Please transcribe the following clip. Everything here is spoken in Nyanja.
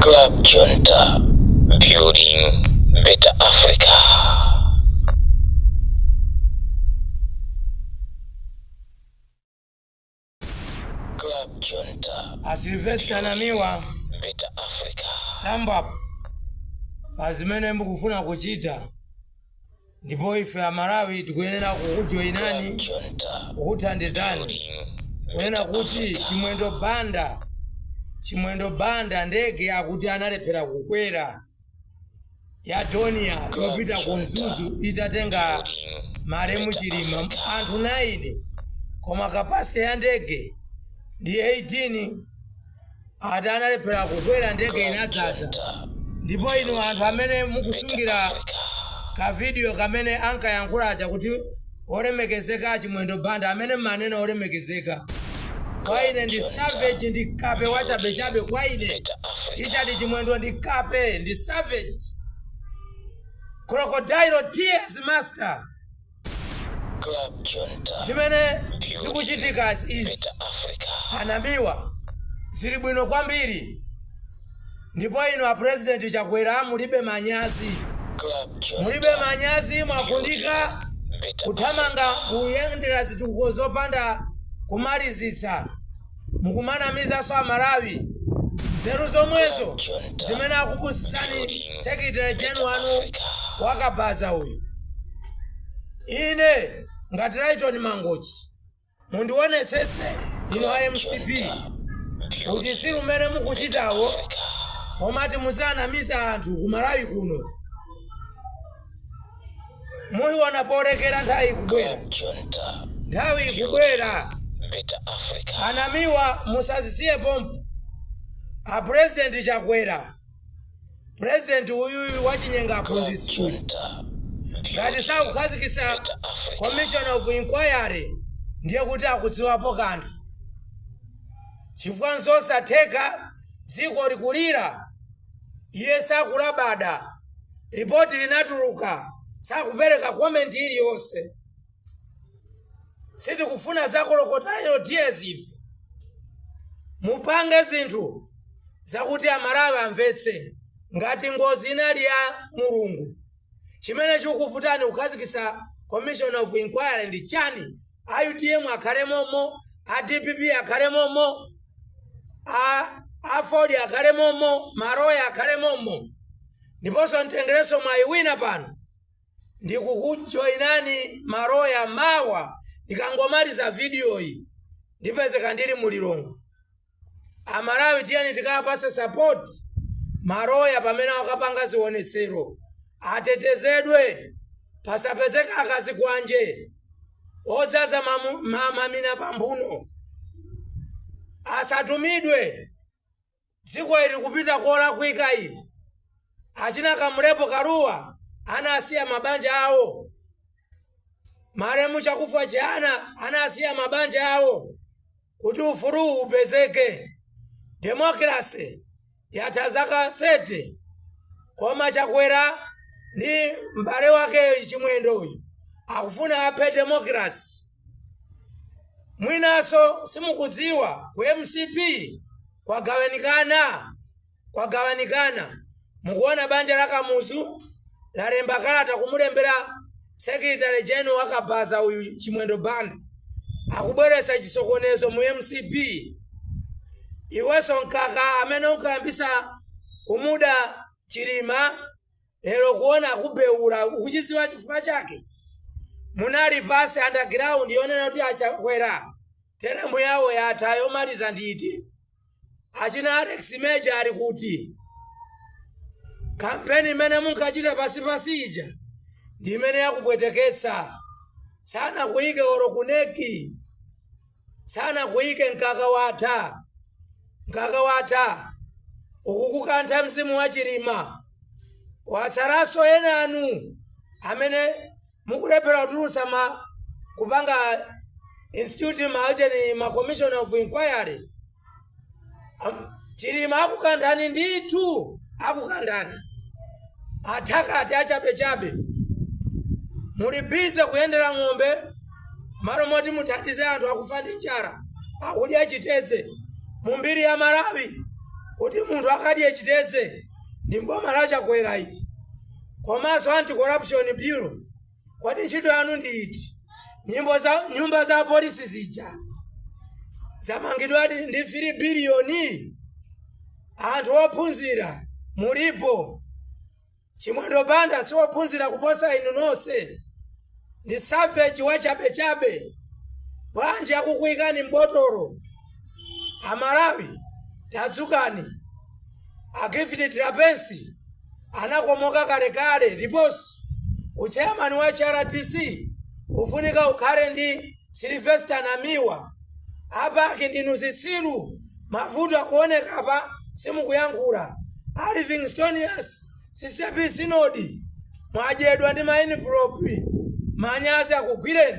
Club Junta, building better Africa. Club Junta, a silvester namiwa better Africa. samba pa zimene mukufuna kuchita Ndipo ife Amalawi tikuyenera kukujoinani, kukuthandizani kunena kuti Chimwendo Banda, Chimwendo Banda ndege akuti analephera kukwera ya Dornier yopita ku Mzuzu itatenga malemu Chilima anthu 9 koma capacity ya ndege ndi 18. ati analephera kukwera ndege inadzadza ndipo inu anthu amene mukusungira kavidiyo kamene ankayankhula aja kuti olemekezeka achimwendo banda amene mmanena olemekezeka kwa ine ndi savage ndi kape wachabechabe kwa ine Richard chimwendo ndi kape ndi savage crocodile tears master Zimene zikuchitikazi izi a Namiwa zili bwino kwambiri ndipo inu a President Chakwera mulibe manyazi mulibe manyazi mwagundika kuthamanga kuyendera zitukuko zopanda kumalizitsa. mukumanamizanso amalawi nzeru zomwezo zimene akupusitsani secretary gen wanu wa kabaza uyu ine ngati lyton mangochi mundionetsetse inu a mcp uchitsiru umene mukuchitawo omati muzianamiza anthu kumalawi kuno muiona polekera nthawi ikubwera nthawi ikubwera a namiwa musazisiye pompo a president chakwera president uyuyu wachinyenga aphunzitsi ngati sakukhazikitsa commission of inquiry ndiye kuti akudziwapo kanthu chifukwa nzosatheka dziko likulira Iye sakulabada. Lipoti linatuluka. Sakupereka comment iliyonse. Sitikufuna za crocodile tears ife. Mupange zinthu zakuti Amalawi amvetse ngati ngozi inali ya Mulungu. Chimene chikuvutani kukhazikitsa Commission of Inquiry ndi chani? a utm akhale momo a dpp akhale momo a aford akhale momo maroya akhale momo ndiponso nditengerenso mwayi wina pano ndikukujoinani maroya mawa ndikangomaliza vidiyoyi ndipezeka ndili mu lilongwe amalawi tiyeni tikawapase support maloya pamene akapanga zionetsero atetezedwe pasapezeka akazikwanje odzaza mamu- ma- mamina pamphuno asatumidwe dziko ili kupita kolakwika ili achina kamlepo kalua anasiya mabanja awo malemu chakufwa chihana anasiya mabanja awo kuti ufuluwu upezeke. Democracy yatha zaka 30 koma Chakwera ndi m'bale wake Chimwendo uyu akufuna aphe democracy. Mwinanso simukudziwa ku mcp kwagawanikana. kwagawanikana. Mukuona banja la Kamuzu lalemba kalata kumulembera Secretary General wa kabaza uyu Chimwendo Banda akubweretsa chisokonezo mu mcp iwenso mkaka amene unkayambisa kumuda chilima Lero kuona kubeula ukuchidziwa chifukwa chake? Munali pasi underground yonena kuti a Chakwera teremu yawo yatha yomaliza ndi iti? Achina Alex Major ali kuti? Kampeni imene munkachita pasipasi ija ndi imene yakupweteketsa. Sanakuyike olo ku NEC. sanakuyike mkaka watha mkaka watha ukukukantha mzimu wa chilima watsalanso enanu amene mukulephera kutulutsa ma kupanga institute ma ujeni ma commission of inquiry Am- chilima akukanthani ndithu akukanthani athakati achabechabe muli busy kuyendera ng'ombe malo moti muthandize anthu akufa ndi njala akudya chitedze mu mbiri ya malawi kuti munthu akadye chitedze ndi m'boma la chakwera ili komanso anti corruption bureau kodi ntchito yanu ndi iti nyumba za polisi zija zamangidwadi ndi 3 biliyoni anthu ophunzira mulipo chimwendo banda si ophunzira kuposa inu nonse ndi savage wachabechabe bwanji akukuyikani m'botolo amalawi tadzukani a gift trapence anakomoka kalekale ndiponso uchairman wa hrdc ufunika ukhale ndi sylvester namiwa a pac ndinu zitsiru mavuto akuoneka apa simukuyankhula a livingstonia ccap synod mwadyedwa ndi ma envelope manyazi akugwireni